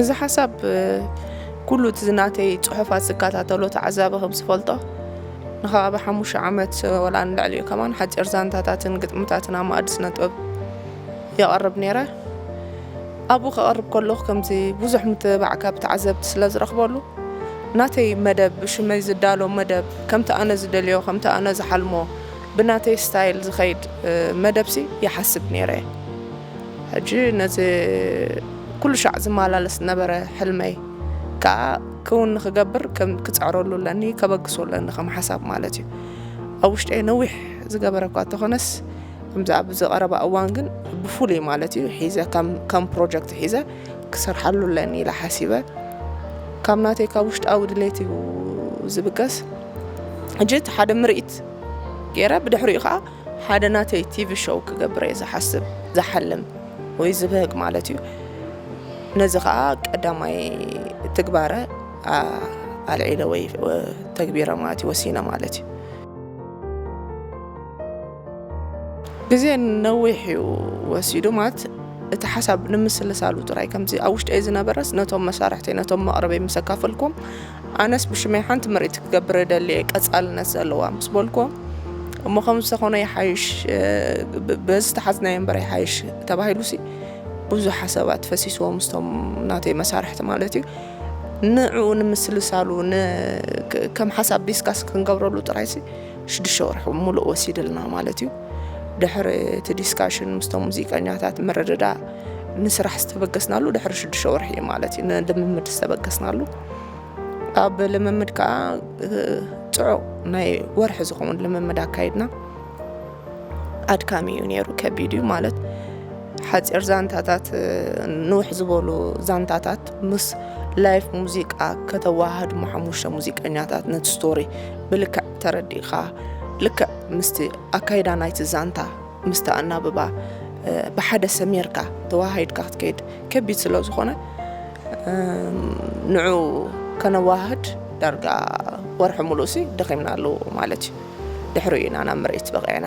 እዚ ሓሳብ ኩሉ እቲ ናተይ ጽሑፋት ዝከታተሎ ተዓዛቢ ከም ዝፈልጦ ንከባቢ ሓሙሽተ ዓመት ወላ ንልዕሊኡ ከማን ሓጺር ዛንታታትን ግጥምታትን ኣብ ማእዲ ስነ ጥበብ የቐርብ ነይረ ኣብኡ ከቐርብ ከለኹ ከምዚ ብዙሕ ምትብባዕ ካብ ተዓዘብቲ ስለ ዝረኽበሉ ናተይ መደብ ብሽመይ ዝዳሎ መደብ ከምቲ ኣነ ዝደልዮ ከምቲ ኣነ ዝሓልሞ ብናተይ ስታይል ዝኸይድ መደብሲ ይሓስብ ነይረ እየ። ሕጂ ነዚ ኩሉ ሻዕ ዝመላለስ ዝነበረ ሕልመይ ከኣ ክውን ንኽገብር ክጽዕረሉ ኣለኒ፣ ከበግሶ ኣለኒ ከም ሓሳብ ማለት እዩ። ኣብ ውሽጠይ ነዊሕ ዝገበረ እኳ እንተኾነስ ከምዚ ኣብዚ ቀረባ እዋን ግን ብፍሉይ ማለት እዩ ሒዘ ከም ፕሮጀክት ሒዘ ክሰርሓሉ ኣለኒ ኢለ ሓሲበ ካብ ናተይ ካብ ውሽጣዊ ድሌት እዩ ዝብገስ። ሕጂ እቲ ሓደ ምርኢት ጌረ ብድሕሪኡ ከዓ ሓደ ናተይ ቲቪ ሾው ክገብር እየ ዝሓስብ ዝሓልም ወይ ዝብህግ ማለት እዩ ነዚ ከዓ ቀዳማይ ትግባረ ኣልዒለ ወይ ተግቢረ ማለት እዩ ወሲነ ማለት እዩ ግዜ ነዊሕ እዩ ወሲዱ ማለት እቲ ሓሳብ ንምስልሳሉ ጥራይ ከምዚ ኣብ ውሽጢ ዝነበረስ ነቶም መሳርሕተይ ነቶም መቕረበይ ምስ ኣካፈልኩም ኣነስ ብሽመይ ሓንቲ ምርኢት ክገብር እደሊ እየ ቀጻልነት ዘለዋ ምስ በልኩ እሞ ከም ዝተኾነ ይሓይሽ በዚ ተሓዝናዮ እምበር ይሓይሽ ተባሂሉ ሲ ብዙ ሓሳባት ፈሲስዎ ምስቶም ናተይ መሳርሕቲ ማለት እዩ ንዕኡ ንምስልሳሉ ከም ሓሳብ ዲስካስ ክንገብረሉ ጥራይ ሲ ሽዱሽተ ወርሒ ሙሉእ ወሲድልና ማለት እዩ ድሕሪ እቲ ዲስካሽን ምስቶም ሙዚቀኛታት ምርድዳ ንስራሕ ዝተበገስናሉ ድሕሪ ሽዱሽተ ወርሒ እዩ ማለት እዩ ንልምምድ ዝተበገስናሉ ኣብ ልምምድ ከዓ ፅዑቕ ናይ ወርሒ ዝኸውን ልምምድ ኣካይድና ኣድካሚ እዩ ነይሩ ከቢድ እዩ ማለት ሓፂር ዛንታታት ንውሕ ዝበሉ ዛንታታት ምስ ላይፍ ሙዚቃ ከተዋሃድ ሞ ሓሙሽተ ሙዚቀኛታት ነቲ ስቶሪ ብልክዕ ተረዲእኻ ልክዕ ምስቲ ኣካይዳ ናይቲ ዛንታ ምስቲ ኣናብባ ብሓደ ሰሚርካ ተወሃሂድካ ክትከይድ ከቢድ ስለ ዝኾነ ንዑ ከነዋህድ ዳርጋ ወርሒ ሙሉእሲ ደኺምናሉ ማለት እዩ ድሕሪኡ ኢና ናብ ምርኢት በቒዕና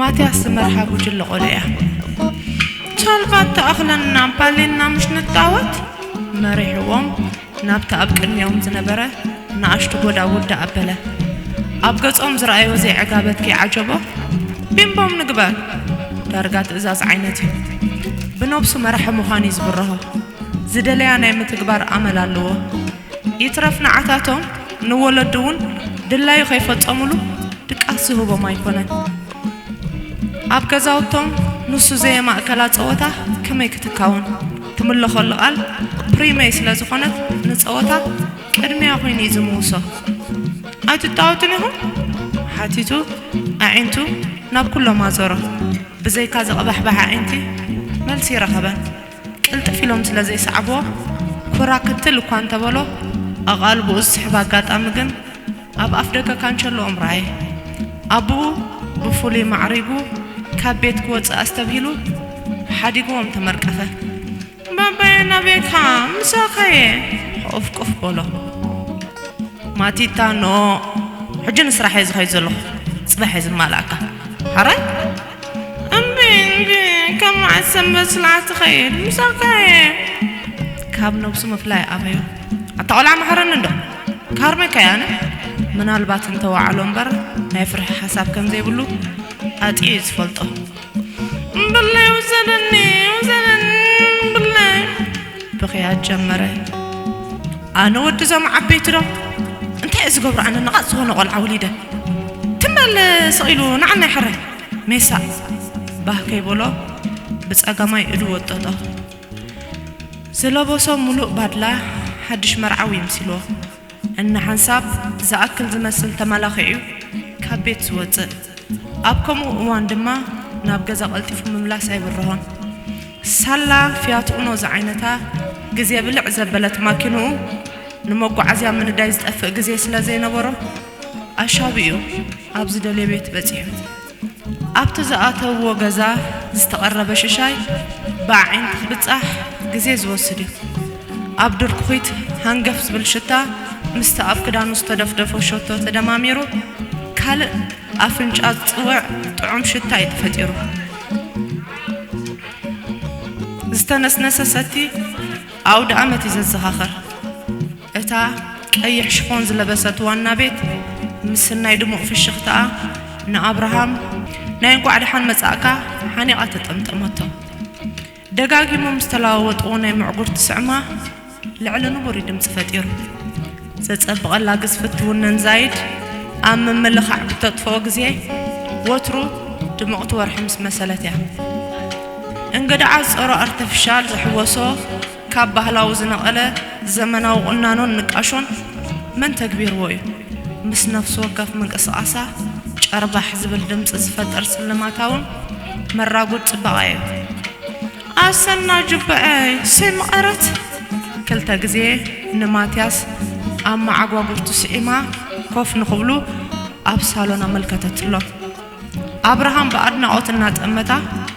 ማትያስ ዝመርሓ ጉጅለ ቆልዑ'ያ። ቻልቫት ተኣኽለንናን ፓሊንና ምስ ንጣወት፣ መሪሕዎም ናብቲ ኣብ ቅድሚኦም ዝነበረ ንኣሽቱ ጎዳጉዲ ኣበለ። ኣብ ገጾም ዝረኣዮ ዘይዕጋበት ከይዓጀቦ፣ ቢምቦም ንግበር! ዳርጋ ትእዛዝ ዓይነት'ዩ። ብነብሱ መራሒ ምዃኑ'ዩ ዝብርሆ። ዝደለያ ናይ ምትግባር ኣመል ኣለዎ። ይትረፍ ንዓታቶም ንወለዱ እውን ድላዩ ከይፈጸሙሉ ድቃስ ዝህቦም ኣይኮነን። ኣብ ገዛውቶም ንሱ ዘየማእከላ ጸወታ ከመይ ክትካወን? ትምለኾሉ ቃል ፕሪመይ ስለ ዝኾነት ንጸወታ ቅድሚያ ኮይኑ እዩ ዝምውሶ። ኣይትጣወቱን ኢኹም? ሓቲቱ ኣዒንቱ ናብ ኩሎም ኣዞሮ። ብዘይካ ዝቕባሕባሕ ኣዒንቲ መልሲ ኣይረኸበን። ቅልጥፍ ኢሎም ስለ ዘይሰዓቡዎ፣ ኩራ ክትል እኳ እንተ በሎ፣ ኣቓልቦኡ ዝስሕብ ኣጋጣሚ ግን ኣብ ኣፍደገ ካንቸሎኦም ረኣየ። ኣቦኡ ብፍሉይ ማዕሪጉ ካብ ቤት ክወጽእ ኣስተብሂሉ፣ ሓዲጉዎም ተመርቀፈ። ባባየ ናበይ እካ ምሳኻየ? ሑቕፍቁፍ በሎ። ማቲታ ኖእ! ሕጂ ንስራሕ እየ ዝኸይድ ዘለኹ። ጽባሕ እየ ዝማልኣካ። ሐራይ? እምቢ እምቢ ካብ መዓስ ሰንበት ስልዓት ትኸይድ ምሳካ እየ። ካብ ነብሱ ምፍላይ ኣበዮ ኣታ ቆልዓ መሓረኒ እንዶ ካርሜካ እየ ኣነ ምናልባት እንተ ወዓሎ እምበር ናይ ፍርሒ ሓሳብ ከም ዘይብሉ ኣጥዩ እዩ ዝፈልጦ። እምብለይ ውሰደኒ ውሰደኒ እምብለይ ብኽያት ጀመረ ኣነ ወዲ ዞም ዓበይቲ ዶ እንታይ እዩ ዝገብሩ ኣነ ነቓፅ ዝኾነ ቆልዓ ወሊደ ትም በል ስቕ ኢሉ ንዓና ይሕረ ሜሳ ባህ ከይበሎ ብፀጋማይ እዱ ወጠጦ ዝለበሶ ሙሉእ ባድላ ሓድሽ መርዓዊ መሲልዎ እንሓንሳብ ዝኣክል ዝመስል ተመላኺዑ'ዩ ካብ ቤት ዝወጽእ። ኣብ ከምኡ እዋን ድማ ናብ ገዛ ቀልጢፉ ምምላስ ኣይብርሆን። ሳላ ፍያት ኡኖ ዝዓይነታ ግዜ ብልዕ ዘበለት ማኪንኡ ንመጓዓዝያ ምንዳይ ዝጠፍእ ግዜ ስለ ዘይነበሮ ኣሻቢኡ ኣብ ዝደልዮ ቤት በጺሑ። ኣብቲ ዝኣተውዎ ገዛ ዝተቐረበ ሽሻይ ብኣዒንቲ ክብጻሕ ግዜ ዝወስድ እዩ። ኣብ ድርኩኺት ሃንገፍ ዝብል ሽታ ምስቲ ኣብ ክዳኑ ዝተደፍደፎ ሸቶ ተደማሚሩ ካልእ ኣፍንጫ ዝጽውዕ ጥዑም ሽታ እዩ ተፈጢሩ። ዝተነስነሰ ሰቲ ኣውደኣመት እዩ ዘዘኻኽር። እታ ቀይሕ ሽፎን ዝለበሰት ዋና ቤት ምስናይ ድሙቕ ፍሽኽታኣ ንኣብርሃም ናይ እንቋዕ ደሓን መጻእካ ሓኒቓ ተጠምጠመቶ። ደጋጊሞም ዝተለዋወጥዎ ናይ ምዕጉርቲ ስዕማ ልዕሊ ንቡር እዩ ድምጺ ፈጢሩ። ዘጸብቐላ ግዝፍት ትውነን ዛይድ ኣብ ምምልኻዕ ብተጥፍኦ ግዜ ወትሩ ድምቕቲ ወርሒ ምስ መሰለት እያ። እንግድዓ ጸሩ ኣርተፍሻል ዝሕወሶ፣ ካብ ባህላዊ ዝነቐለ ዘመናዊ ቁናኖን ንቃሾን መን ተግቢርዎ እዩ? ምስ ነፍሲ ወከፍ ምንቅስቓሳ ጨርባሕ ዝብል ድምጺ ዝፈጥር ስልማታውን መራጉድ ጽባቐ እዩ። ኣሰና ጁባ'ይ ሰይመቐረት! ክልተ ግዜ ንማትያስ ኣብ መዓጓጉርቱ ስዒማ ኮፍ ንኽብሉ ኣብ ሳሎን ኣመልከተትሎም። ኣብርሃም ብኣድናቖት እናጠመታ።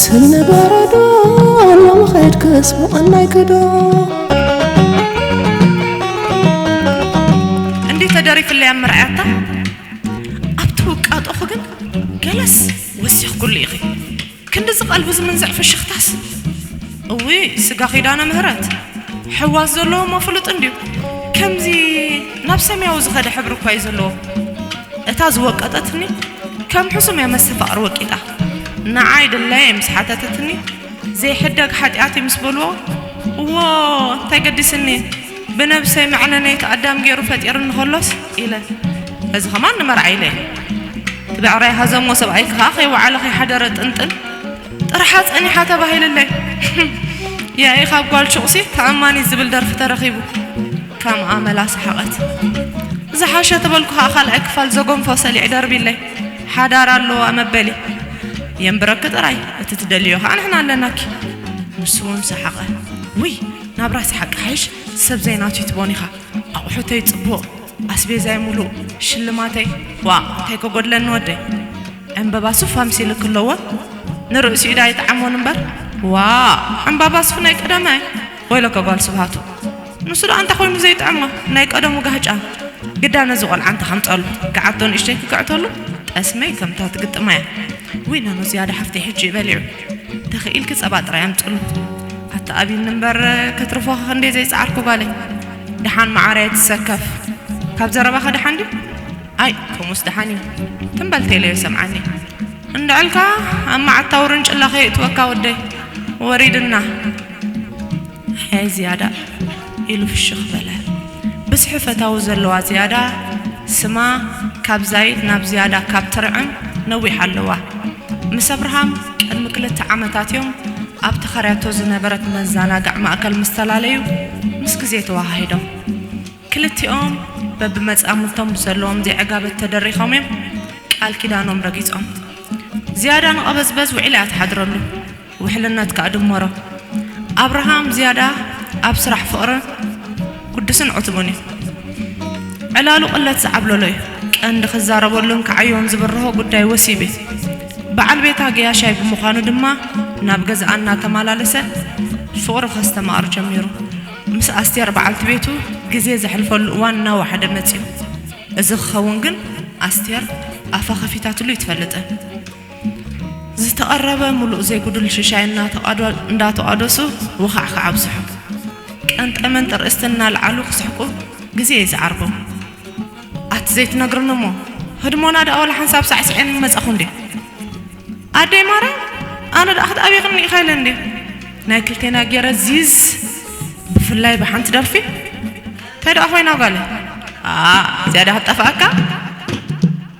ስኒ በረዶ ሎሚ ኸድክስ ምቐናይ ክዶ እንዲ ተደሪፍለያ ምርኣያታ ኣብቲ ውቃጦኹ ግን ገለስ ወሲኽኩሉ ኢኺ ክንዲ ዝቐልቢ ዝምንዝዕ ፍሽኽታስ እዊ ስጋ ኪዳነ ምህረት ሕዋስ ዘለዎ እሞ ፍሉጥ እንድዩ ከምዚ ናብ ሰማያዊ ዝኸደ ሕብሪ እኳ እዩ ዘለዎ እታ ዝወቀጠትኒ ከም ሕሱም እያ መስተፋቕር ወቂጣ ንዓይ ድላየይ ምስ ሓተተትኒ፣ ዘይሕደግ ሓጢኣት'ዩ ምስ በልዎ፣ እዎ እንታይ ገዲስኒ፣ ብነብሰይ መዕነነይት ኣዳም ገይሩ ፈጢርኒ ከሎስ ኢለ፣ እዚ ከማን ንመርዓ ኢለ እየ። እቲ ብዕራይ ሃዘሞ ሰብኣይኪ ከኣ ከይወዓለ ከይሓደረ ጥንጥን ጥርሓ ጸኒሓ ተባሂልለይ። ያኢ ካብ ጓል ሹቕሲ ተኣማኒት ዝብል ደርፊ ተረኺቡ። ከም ኣመላ ሰሓቐት። ዝሓሸ ተበልኩ ከኣ ካልኣይ ክፋል ዘጎንፎ ሰሊዕ ደርቢለይ። ሓዳር ኣለዋ መበሊ የንብረኪ ጥራይ እቲ ትደልዮ ከኣ ንሕና ኣለናኪ ንሱ ውን ሰሓቐ ውይ ናብራ ሰሓቅ ክሓይሽ ሰብ ዘይናቱ ይትቦን ኢኻ ኣቑሑተይ ጽቡቕ ኣስቤዛይ ሙሉእ ሽልማተይ ዋእ እንታይ ከጎድለኒ ወደይ ዕምበባ ሱፍ ኣምሲልኪ ኣለዎ ንርእሲኡ ዳኣ ይጥዓሞን እምበር ዋእ ዕምባባ ሱፍ ናይ ቀደመ ወይለከ ጓል ስብሃቱ ንሱ ደኣ እንታይ ኮይኑ ዘይጥዕማ ናይ ቀደሙ ጋህጫ ግዳ ነዚ ቆልዓ እንተ ከምጸሉ ገዓቶ ንእሽተይ ክግዕተሉ ጠስመይ ከምታ ትግጥማ እያ ውይ ነኖ ዝያዳ ሓፍተይ ሕጂ እዩ በሊዑ ተኺኢልኪ ጸባ ጥራይ ኣምጽሉ ኣታ ኣብዩኒ እምበር ከትርፎ ከክንደይ ዘይጸዓርኩ ጓለይ ደሓን መዓረይ ኣይትሰከፍ ካብ ዘረባኸ ደሓን ድዩ ኣይ ከምኡስ ደሓን እዩ ትም በል ቴለዮ ሰምዓኒ እንድዕልካ ኣብ መዓታ ውርንጭላ ከየእትወካ ወደይ ወሪድና ሐየ ዝያዳ ኢሉ ፍሽኽ በለ። ብዝሒ ፈታዊ ዘለዋ ዝያዳ ስማ ካብ ዛይድ ናብ ዝያዳ ካብ ትርዕም ነዊሕ ኣለዋ። ምስ ኣብርሃም ቅድሚ ክልተ ዓመታት እዮም ኣብ ተኸርያቶ ዝነበረት መዘናግዕ ማእከል ምስ ተላለዩ ምስ ግዜ ተወሃሂዶም። ክልቲኦም በብመጻምድቶም ብዘለዎም ዘይዕጋበት ተደሪኾም እዮም ቃል ኪዳኖም ረጊጾም። ዝያዳ ንቐበዝበዝ ውዒላ እያ ትሓድረሉ። ውሕልነት ከኣ ድመሮ። ኣብርሃም ዝያዳ ኣብ ስራሕ ፍቕርን ግዱስን ዕቱብን እዩ። ዕላሉ ቅለት ዝዓብለሎ እዩ። ቀንዲ ክዛረበሉን ክዓዮን ዝብርሆ ጉዳይ ወሲብ እዩ። በዓል ቤታ ገያሻይ ብምዃኑ ድማ ናብ ገዝኣ እናተመላለሰ ፍቕሩ ከስተማቕር ጀሚሩ። ምስ ኣስቴር በዓልቲ ቤቱ ግዜ ዘሕልፈሉ እዋን እናወሓደ መጺኡ። እዚ ክኸውን ግን ኣስቴር ኣፋ ከፊታትሉ ኣይትፈልጥን። ዝተቐረበ ሙሉእ ዘይጉዱል ሽሻይ እንዳተቋደሱ ወኻዕካዕ ኣብዝሑ። ቀንጠመን ጥርእስቲ እናልዓሉ ክስሕቁ ግዜ ይስዓርኩም። ኣቲ ዘይትነግርኒ እሞ ህድሞና ደኣ ዋላ ሓንሳብ ሳዕሲዔን ምመጻኹ እንዴ። ኣደይ ማርያም ኣነ ደኣ ክትኣብየኽኒ ኢኻ ኢለ እንዴ። ናይ ክልቴና ጌረ ዚዝ ብፍላይ ብሓንቲ ደርፊ ታይ ደኣ ኮይና ጓለይ ኣኣ ዝያዳ ክትጠፍኣካ።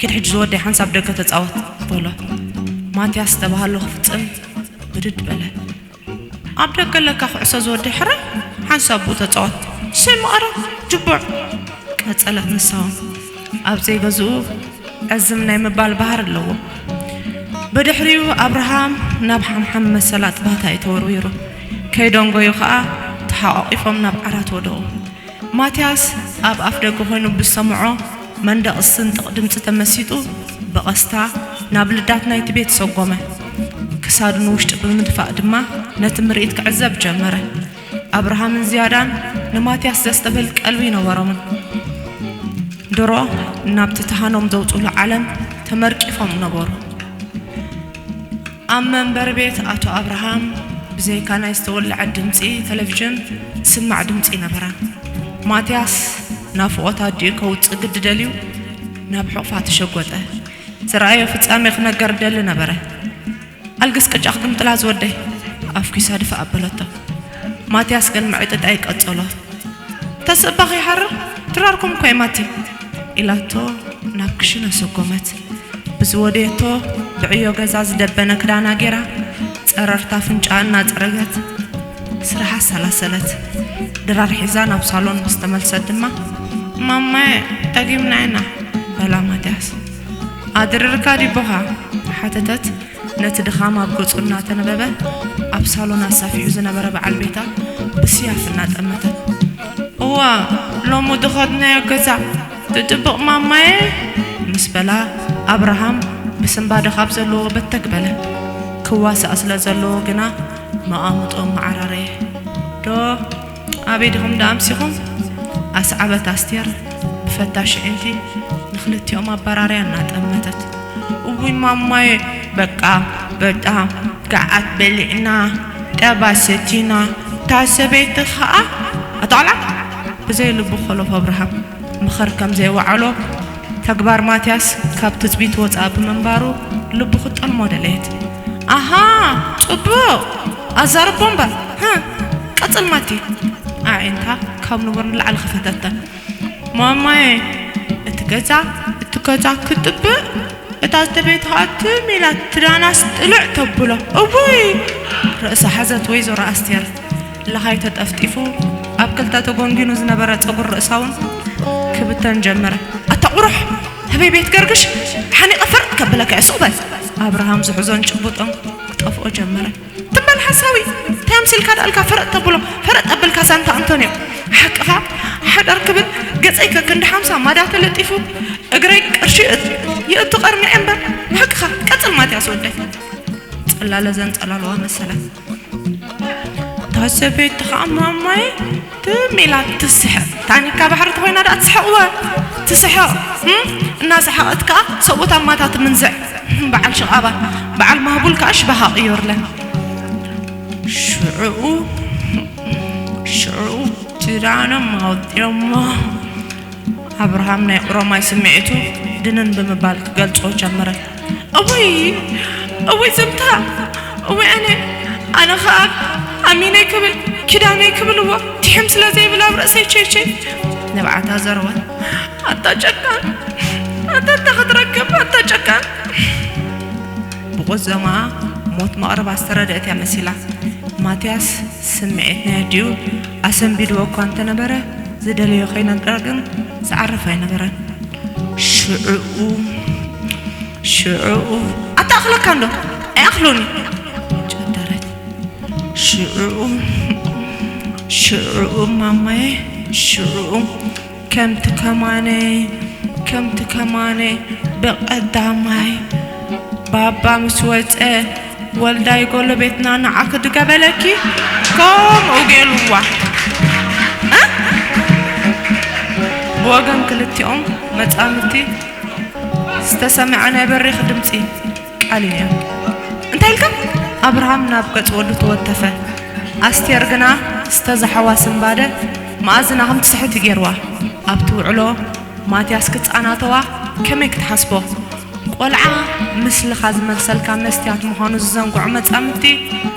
ኪድ ሕጂ ዝወደይ ሓንሳብ ደገ ተጻወት በሎ። ማትያስ ዝተባሃሎ ክፍጽም ብድድ በለ። ኣብ ደገ ኣለካ ኩዕሶ ዝወደይ ሕራይ ሓንሳብ ኣብኡ ተጻወት። እሰይ መቐረ ጅቡዕ! ቀጸለት ንሳ። ኣብ ዘይገዝኡ ዕዝም ናይ ምባል ባህሪ ኣለዎ። ብድሕሪኡ ኣብርሃም ናብ ሓምሓም መሰል ኣጥባታ'ዩ ተወርዊሩ። ከይደንጎዩ ከኣ ተሓቋቚፎም ናብ ዓራት ወደቑ። ማትያስ ኣብ ኣፍደገ ኮይኑ ብዝሰምዖ መንደቕ ዝስንጥቕ ድምጺ ተመሲጡ ብቐስታ ናብ ልዳት ናይቲ ቤት ሰጎመ። ክሳዱ ንውሽጢ ብምድፋእ ድማ ነቲ ምርኢት ክዕዘብ ጀመረ። ኣብርሃምን ዝያዳን ንማትያስ ዘስተብህል ቀልቢ ኣይነበሮምን። ድሮ ናብቲ ተሃኖም ዘውጽሉ ዓለም ተመርቂፎም ነበሩ። ኣብ መንበሪ ቤት ኣቶ ኣብርሃም ብዘይካ ናይ ዝተወልዐ ድምጺ ተለቪዥን ዝስማዕ ድምጺ ኣይነበረን። ማትያስ ናፍቖት ኣዲኡ ከውጽእ ግዲ ደልዩ ናብ ሕቑፋ ተሸጎጠ። ዝረኣዮ ፍጻሜ ክነገር ይደሊ ነበረ። ኣልግስ ቅጫ ክግምጥላ ዝወደይ! ኣፍኲሳ ድፋእ ኣበለቶ። ማትያስ ግን ምዕጥጣይ ቀጸሎ። ተስእባኺ ይሓርር ድራርኩም እኳ'ዩ ማቲ! ኢላቶ ናብ ክሽነ ሰጎመት። ብዝወደየቶ ብዕዮ ገዛ ዝደበነ ክዳና ጌራ ጸረርታ ኣፍንጭኣ እናጸረገት ስርሓ ኣሰላሰለት። ድራር ሒዛ ናብ ሳሎን ምስ ተመልሰት ድማ፣ ማማየ ደጊምና ኢና፣ በላ ማትያስ። ኣድርርካ ዲ'ቦኻ? ሓተተት ነቲ ድኻም ኣብ ገጹ እናተነበበ ኣብ ሳሎን ኣሳፊሑ ዝነበረ በዓል ቤታ ብስያፍ እናጠመተት። እዋ ሎሚ ድኸድናዮ ገዛ! ብጥብቕ ማማየ ምስ በላ ኣብርሃም ብስንባደ ካብ ዘለዎ በተግ በለ። ክዋሳእ ስለ ዘለዎ ግና መቓምጦ መዓራረየ። ዶ ኣበይ ዲኹም ደኣ ኣምሲኹም? ኣስዓበት ኣስቴር ብፈታሽ ኣዒንቲ ንኽልቲኦም ኣበራርያ እናጠመተት። እውይ ማማየ በቃ በጣም ገዓት በሊዕና፣ ጸባ ሰቲና፣ እታ ሰበይቲ ኸኣ ኣታ ቖልዓ! ብዘይ ልቡ ኾሎፍ ኣብርሃም ምኽር ከም ዘይወዓሎ፣ ተግባር ማትያስ ካብ ትጽቢት ወጻኢ ብምንባሩ ልቡ ክትጠልሞ ደለየት። ኣሃ ጽቡቕ ኣዛርቦ እምበር፣ ህ! ቀጽል ማቲ! ኣዒንታ ካብ ንቡር ንላዕሊ ኸፈተተን። ማማየ! እቲ ገዛ እቲ ገዛ ክጥብእ እታ ዝተቤትኻ ትም ኢላ ትዳናስ ጥልዕ ተብሎ። እውይ! ርእሳ ሓዘት ወይዘሮ ኣስቴር። ለኻይ ተጠፍጢፉ ኣብ ክልተ ተጎንጊኑ ዝነበረ ፀጉር ርእሳውን ክብተን ጀመረ። ኣታ ቁሩሕ ህበይ ቤት ገርግሽ ሓኒቐ ፈርጥ ከብለካ'የ ሱቕ በል። ኣብርሃም ዝሕዞን ጭቡጦን ክጠፍኦ ጀመረ። ትም በል ሓሳዊ እንታይ ኣምሲልካ ደኣ እልካ ፈረጥ ተብሎ ፈረጥ ኣብልካ ዛንታ ኣንቶንዮ ሓቅኻ ሓዳር ክብል ገፀይ ከክንዲ ሓምሳ ማዳ ተለጢፉ እግረይ ቅርሺ የእቱ ቀርኒዐ እምበር ሓቅኻ ቀፅል ማትያስ ወደይ። ፅላለ ዘንፀላልዋ መሰላ። ታሰበይቲ ከዓ ማማይ ትም ኢላ ትስሕቕ ታኒካ ባሕሪ ተኮይና ዳኣ ትስሕቕወ ትስሕቕ እናሰሓቐት ከዓ ሰብኡት ኣማታ ትምንዝዕ በዓል ሽቓባ በዓል ማህቡል ከዓ ሽባሃ ቅዮርለን ሽዑኡ ሽዑኡ ጅዳኖም ኣውጢኦሞ ኣብርሃም ናይ ኦሮማይ ስምዒቱ ድንን ብምባል ክገልጾ ጀመረ እውይ እውይ ዘምታ እውይ ኣነ ኣነ ኸኣ ኣሚነይ ክብል ኪዳነይ ክብልዎ ትሕም ስለ ዘይብል ኣብ ርእሰይ ቸይቸይ ንብዓታ ዘርወን ኣታ ጨካን ኣታ እንተ ክትረክብ ኣታ ጨካን ብቑዘማ ሞት መቕረባ ዝተረድአት እያ መሲላ ማትያስ ስምዒት ናይ ኣዲኡ ኣሰንቢድዎ እኳ እንተ ነበረ፣ ዝደለዮ ከይነግራ ግን ዝዓርፍ ኣይነበረን። ሽዕኡ ሽዕኡ ኣታኣኽለካ እንዶ ኣይኣኽሎን እዩ ጨደረት። ሽዕኡ ሽዕኡ ማማየ ሽዕኡ ከምቲ ከማነ ከምቲ ከማነ ብቀዳማይ ባባ ምስ ወጸ ወልዳይ ጎሎቤትና ንዓኺ ድገበለኪ ከምኡ ገይሩዋ እ ብወገን ክልቲኦም መጻምድቲ ዝተሰምዐ ናይ በሪኽ ድምጺ ቃል እያ እንታይ ኢልካ ኣብርሃም ናብ ገጽ ወዱ ተወተፈ ኣስቴር ግና ዝተዛሓዋ ስንባደ መኣዝና ከም ትስሕት እዩ ጌርዋ ኣብቲ ውዕሎ ማትያስ ክጻናተዋ ከመይ ክትሓስቦ ቆልዓ ምስልኻ ዝመልሰልካ መስትያት ምዃኑ ዝዘንግዖ መጻምድቲ